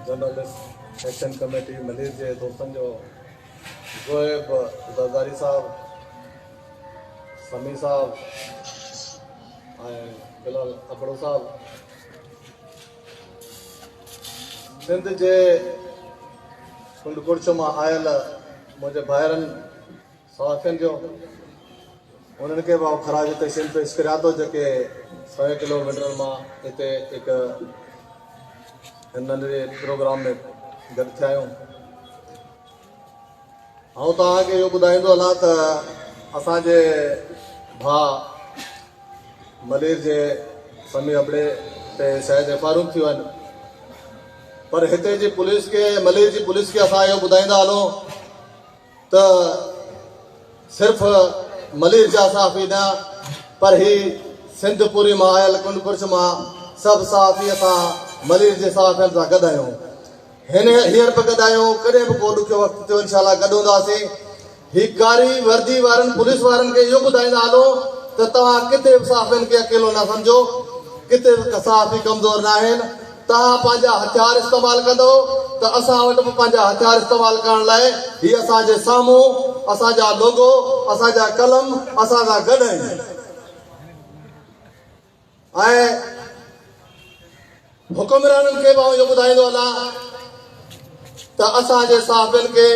Journalist action committee Malir جي دوستن جو زوئب زرداري صاحب سمي صاحب بلال ابڙو صاحب سنڌ جي ڪنڊ ڪڙڇ مان آيل منهنجي ڀائرن صحافين جو انهن کي به آئون خراج تحسين پيش ڪريان ٿو جيڪي سوين ڪلو ميٽرن مان هتي هڪ ننڍڙي پروگرام ۾ گڏ ٿيا آهيون آئون توهان کي اهو ٻڌائيندو هلان ته اسان جي ڀاء ملير جي سمي ابڙي تي شايد ايف آر اون ٿيون آهن پر هتي جي پوليس کي ملير جي پوليس کي اسان اهو ٻڌائيندا هلون ته صرف ملير جا صحافي نه پر هي سنڌ پوري مان آيل ڪنڊ ڪڙڇ مان سڀ صحافي اسان ملير جي صحافين سان گڏ آهيون هن هينئر به گڏ آهيون ڪڏهن به ڪو ڏکيو وقت ٿيو انشاء الله گڏ هونداسين هي ڪاري وردي وارن پوليس وارن کي اهو ٻڌائيندا هلو ته توهان ڪٿي به صحافين کي اڪيلو نه سمجهو ڪٿي به صحافي ڪمزور نه آهن توهان پنهنجا هٿيار استعمال ڪندؤ ته اسان وٽ به پنهنجا هٿيار استعمال ڪرڻ لاء هي اسان جي سامهون اسان جا لوگو، اسان جا قلم اسان سان گڏ آهن ۽ حڪمرانن کي به آئون اهو ٻڌائيندو هلان ته اسان جي صحافين کي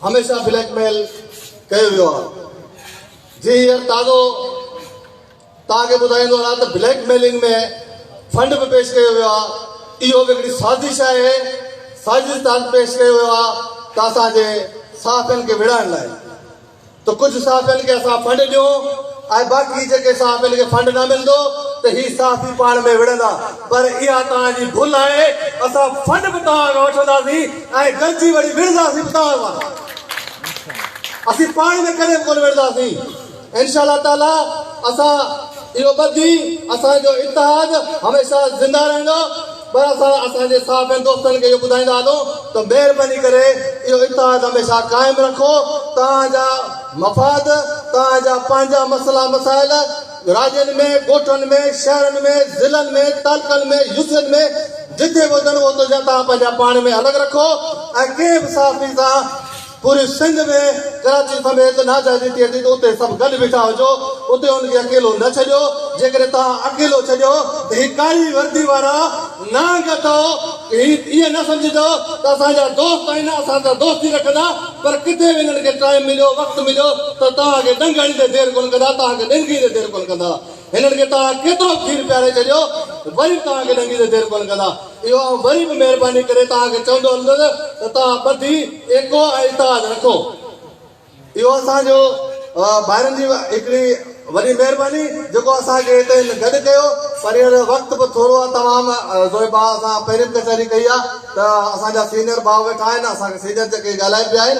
هميشه بليڪ ميل ڪيو ويو آهي جي هينئر تازو توهان کي ٻڌائيندو رهان ته بليڪ ميلنگ ۾ فنڊ به پيش ڪيو ويو آهي، اهو به هڪڙي سازش آهي، سازش تحت پيش ڪيو ويو آهي ته اسان جي صحافين کي وڙهائڻ لاء ته ڪجهه صحافين کي اسان فنڊ ڏيون ۽ باقي جيڪي صحافين کي فنڊ نه ملندو ته هي صحافي پاڻ ۾ وڙهندا پر اها توهان جي ڀل آهي، اسان فنڊ به توهان کان وٺنداسين ۽ گڏجي وڙي وڙهنداسين به توهان سان، اسين پاڻ ۾ ڪڏهن به ڪونه وڙهنداسين. انشاء الله تعاليٰ اسان اهو ٻڌي اسان جو اتحاد هميشه زنده رهندو پر اسان اسان جي صحافين دوستن کي اهو ٻڌائيندا هلون ته مهرباني ڪري اهو اتحاد هميشه قائم رکو توهان جا مفاد توهان جا پنهنجا مسئلا مسائل راڄن ۾ ڳوٺن ۾ شهرن ۾ ضلعن ۾ تعلقن ۾ يوسين ۾ جٿي به هجن اتي جا توهان پنهنجا پاڻ ۾ الڳ رکو ۽ ڪنهن به صحافي سان پوري سنڌ ۾ ڪراچي سميت ناجائزي ٿئي ٿي ته اتي سڀ گڏ بيٺا هجو، اتي ان کي اڪيلو نه ڇڏيو، جيڪڏهن توهان اڪيلو ڇڏيو ته هي ڪاري وردي وارا نانگ اٿئو هي ائين نه سمجهجو ته اسان جا دوست آهن اسان سان دوستي رکندا پر ڪٿي به هنن کي ٽائيم مليو وقت مليو ته توهان کي ڏنگ هڻيندي دير ڪونه ڪندا توهان کي ڏينگيندي دير ڪونه ڪندا. هنن کي توهان ڪيترو کير پياري ڇڏيو ته وري به توهان کي ڏنگي تي دير ڪونه ڪندا. اهو آئون وري به مهرباني ڪري توهان کي چوندو هلندس ته توهان ٻڌي ايڪو ۽ اتحاد رکو. اهو اسان جو ڀائرن جي هڪڙي وڏي مهرباني جيڪو اسان کي هتي هن گڏ ڪيو پر هينئر وقت به ٿورو آهي تمام زوئي ڀاء اسان پهرين به ڪچهري ڪئي آهي ته اسان جا سينئر ڀاء ويٺا آهن اسان کي سينئر جيڪي ڳالهائي پيا آهن.